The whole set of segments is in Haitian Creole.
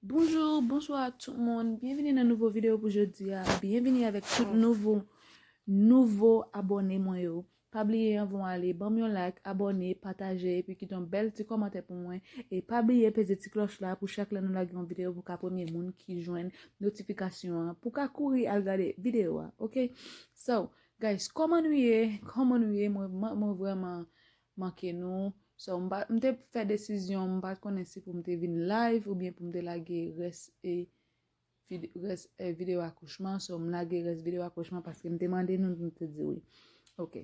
Bonjou, bonswa ak tout moun, byenvini nan nouvo videyo pou jodi a, byenvini avèk tout nouvo, nouvo abòne mwen yo, pa bliye anvan w ale banm yon like, abòne, pataje epi kite yon bèl ti kòmantè pou mwen, e pa bliye peze ti klòch la pou chak lè nou lage yon videyo pou ka premye moun ki jwenn notifikasyon an, pou ka kouri al gade videyo a ok, so guys kòman nou ye, kòman nou ye mwen vrèman manke nou so m pa m te fè desizyon m pat konnen si pou m te vin live oubyen pou m te lage rès e rès e video akouchman so m lage rès video akouchman paske m te mande nou nou te di wi ok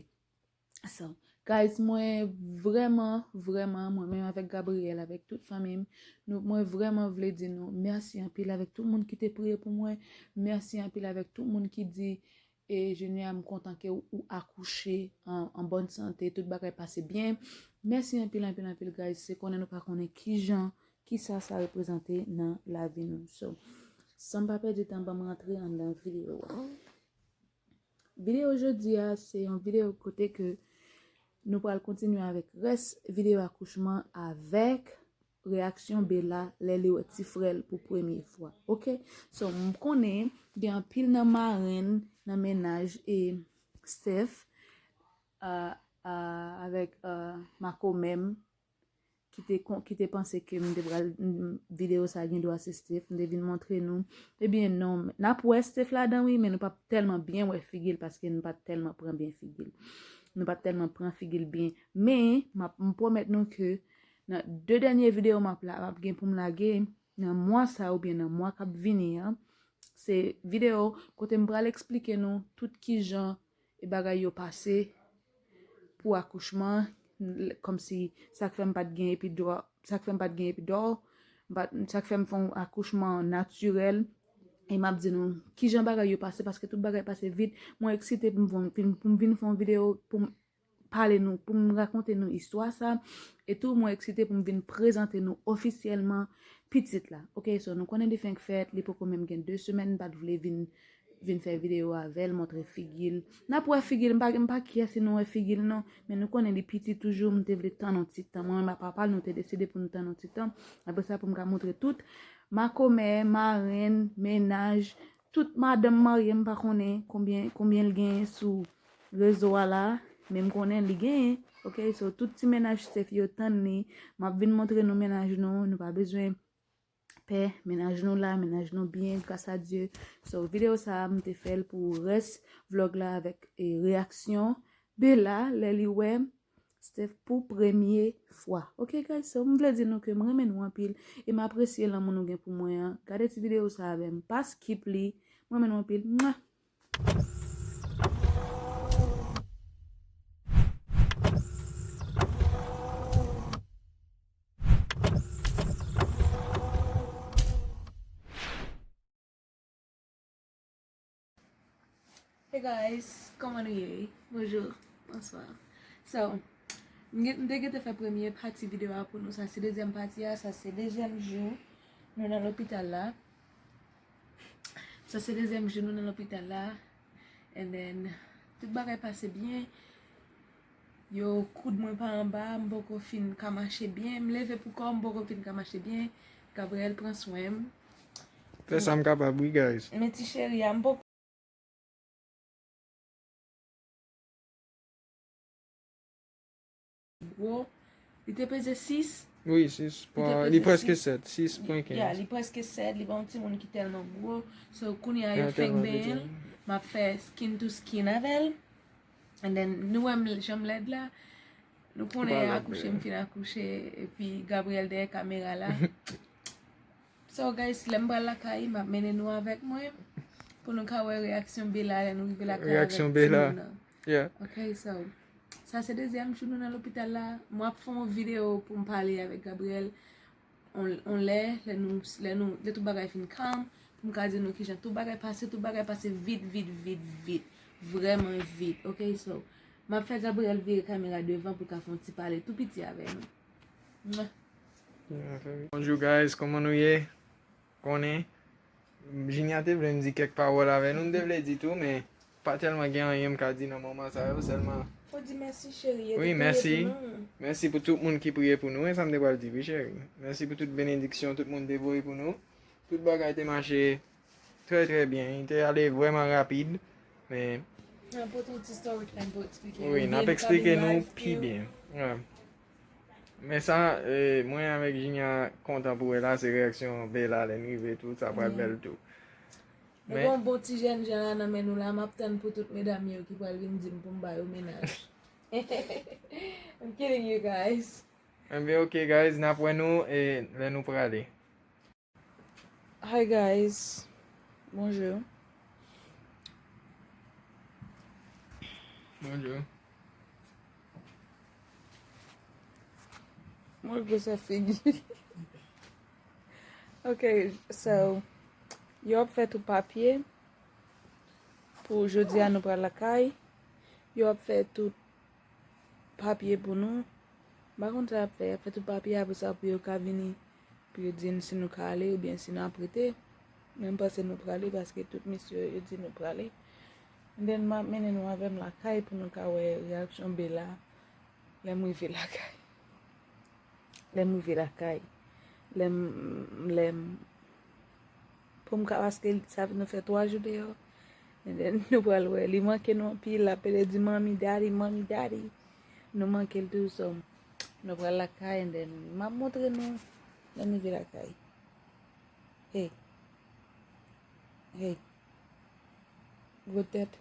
so guys mwen vrèman vrèman mwen menm avèk Gabriel avèk tout fanmi m nou mwen vrèman vle di nou mèsi anpil avèk tout moun ki te priye pou mwen mèsi anpil avèk tout moun ki di E Junior m kontan ke ou akouche an bòn sante, tout bagay pase byen. Mèsi anpil anpil anpil guys, se konnen nou pa konnen kijan, kisa sa reprezante nan lavi nou. So, san m pa pèdi tan banm rantre anndan videyo a. Videyo jodi a se yon videyo kote ke nou pral kontinye avèk rès videyo akouchman avèk. Reaksyon Bella lè li wè ti frè l pou premye fwa ok so m konnen gen anpil nan marenn nan mennaj e Steph avèk makomè m ki te panse ke m te pral videyo sa gendwa se Steph m te vin montre nou ebyen non n ap wè Steph ladan wi men nou pap tèlman byen wè figi l paske nou pat tèlman pran byen figi l nou pat tèlman pran figi l byen men m pwomèt nou ke Nan 2 dènye video map la map gen poum lage nan mwa sa ou byen nan mwa kap vini an se video kote m pral eksplike nou tout kijan e bagay yo pase pou akouchman kòm si sak fèm pat gen epidura sak fèm pat gen epidòl sak fèm fon akouchman natirèl e map di nou kijan bagay yo pase paske tout bagay pase vit mwen eksite poum vin fon video poum pale nou, pou m rakonte nou istwa sa, e tou mwen eksite pou m vin prezante nou ofisyèlman pitit la, ok, so nou konnen li fenk fèt, li poko menm gen 2 semèn, m pat vle vin vin fè videyo avè l, montre figi l, n ap wè figi l, m pa kyè si nou wè figi l non, men nou konnen li piti toujou, m te vle tann yon ti tan, mwen menm ak papa l nou te deside pou nou tann yon ti tan, apresa pou m ka montre tout, makomè, marenn, mennaj, Tout madanm marye m pa konnen konbyen konbyen l genyen sou rezo a la men m konnen li genyen ok so tout ti mennaj se fi yo tann li m ap vin montre nou mennaj nou nou pa bezwen pè mennaj nou la mennaj nou byen gras a Dye so videyo sa a m te fè l pou rès vlog la avèk reyaksyon Bella lè li wè Steph pou premye fwa. Ok guys so m vle di nou ke m renmen nou anpil e m apresye lanmou nou gen pou mwen an. Gade ti video sa avè m. Pa skip li. M renmen nou anpil. Mwah! Hey guys, kòman nou ye? Bonjour, bonsoir So, m te gete fè premye pati video a pou nou Sa se dezyèm pati a, sa se dezyèm jou nou nan lopital la Sa se dezyèm jou nou nan lopital la And then, tout bagay pase byen Yo koud mwen pa anba, m poko fin ka mache byen, m leve pou kò m poko fin ka mache byen, Gabriel pran swen m. Fè sa m kapab wi guys. Men ti cheri a m poko. Gwo, li te peze 6. Wi 6 pwa, li preske 7, 6 pwen 15. Ya, li preske 7, li pa yon timoun ki tèlman gwo. So kounye a yo fenk benyen l, m ap fè skin to skin avè l. And then, nou wèm janm lèd la, nou konnen akouche m fin akouche, epi Gabriel dèyè kamera la. So guys, lèm pral lakay, map mennen nou avèk mwen, pou nou ka wè reyaksyon Bella lè nou rive lakay avèk ti moun nan. Reyaksyon Bella, yeah. Ok, so, sa se dezyèm jou nou nan lopital la, mwen ap fè yon video pou m pale avèk Gabriel. on lè, lè nou, lè nou, lè tout bagay fin kalm, pou m ka di nou kijan tout bagay pase, tout bagay pase vit, vit, vit, vit, vrèman vit, ok, so, m ap fè Gabriel vire kamera devan pou l ka fè yon ti pale tou piti avè nou. Mwah! Bonjou guys, kòman nou ye? Konnen, Jinya te vle m di kèk pawòl avè nou, m te vle di tou, men, Pa tèlman gen anyen m ka di nan moman sa yo sèlman. Fò di mèsi cheri yo te priye pou nou. Wi mèsi. Mèsi pou tout moun ki priye pou nou e sa m te pral di wi cheri. Mèsi pou tout benediksyon tout moun te voye pou nou. Tout bagay te mache trè trè byen. Li te ale vrèman rapid men. Nan pote yon ti story time pou eksplike nou. Wi nap eksplike nou pi byen. Men sa mwen avèk Jinya kontan pou wè la se reyaksyon Bella lè n rive tou sa pral bèl tou. Nou gen yon bon ti jènjan la nan men nou la, map tann pou tout medam yo ki pral vin dim poum ba yo mennaj. I'm kidding you guys. Enben ok guys, nap wè nou lè nou prale. Hi guys, bonjour. Bonjour. Mwen gwosè figi. Ok, so, yo ap fè tou papye, pou jodi a nou pral lakay, yo ap fè tout papye pou nou, mpa konn sa yo ap fè, yo ap fè tout papye apre sa pou yo ka vini, pou yo di nou si nou ka ale oubyen si nou ap rete, men mpanse nou prale paske tout mesye yo yo di nou prale, and then map mennen nou avèm lakay pou nou ka wè reyaksyon Bella lèm rive lakay. Lèm rive lakay, lèm, lèm, pou m ka paske sa nou fè 3 jou deyò, and then nou pral wè, li manke nou anpil, l ap rele di mommy, daddy, mommy, daddy, nou manke l toujou so, nou pral lakay and then m ap montre nou lèm rive lakay. Hey, hey, gwo tèt.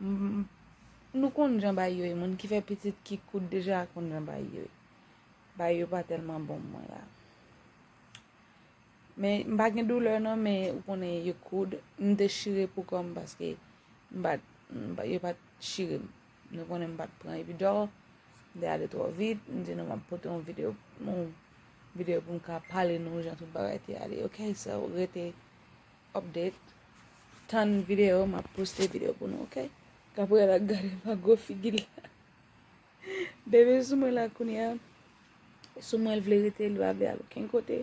Nou konn jan bay yo ye moun ki fè pitit ki kout deja konn jan bay yo ye bay yo pa tèlman bon mwen la men m pa gen doulè nan men ou konnen yo koud m te chire pou kòm paske m pat yo pat chire m nou konnen m pat pran epidòl m te ale twò vit m di nou m ap pote yon videyo yon videyo pou m ka pale nou jan tout bagay te ale ok so rete Update Tann video map poste video pou nou ok Gabriel ak gade pa gwo figil la Bebe sou mwen la kounya Sou mwen l vle rete li pa vle al okenn kote